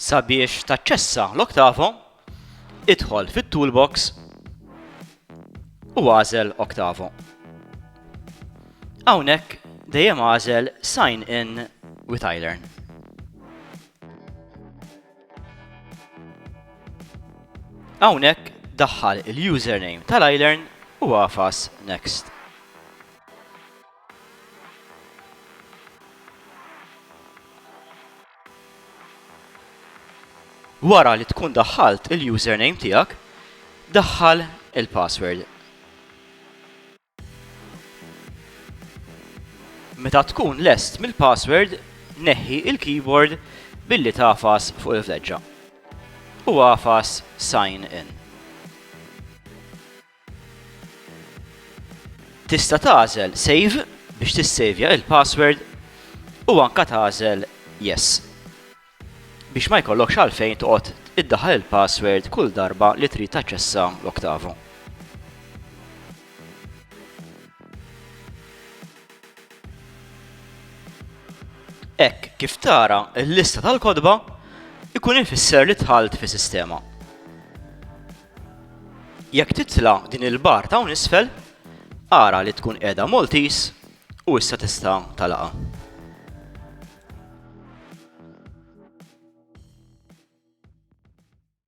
Sabiex taċċessa l-Octavo, idħol fit-Toolbox u għażel Octavo. Hawnhekk dejjem għażel Sign in with iLearn. Hawnhekk daħħal il-username tal-iLearn u agħfas Next. Wara li tkun daħħalt il-username tiegħek, daħħal il-password. Meta tkun lest mill-password, neħħi l-keyboard billi tagħfas fuq il-fleġġa u agħfas Sign In. Tista' tagħżel Save biex tissejvja l-password u anke tagħżel Yes. biex ma jkollokx għalfejn toqgħod iddaħħal il-password kull darba li trid taċċessa l-Octavo. Hekk kif tara l-lista tal-kotba ikun ifisser li tħalt fi sistema. Jekk titla' din il-bar ta' isfel, ara li tkun qiegħda Maltese U issa tista' tagħlaqha.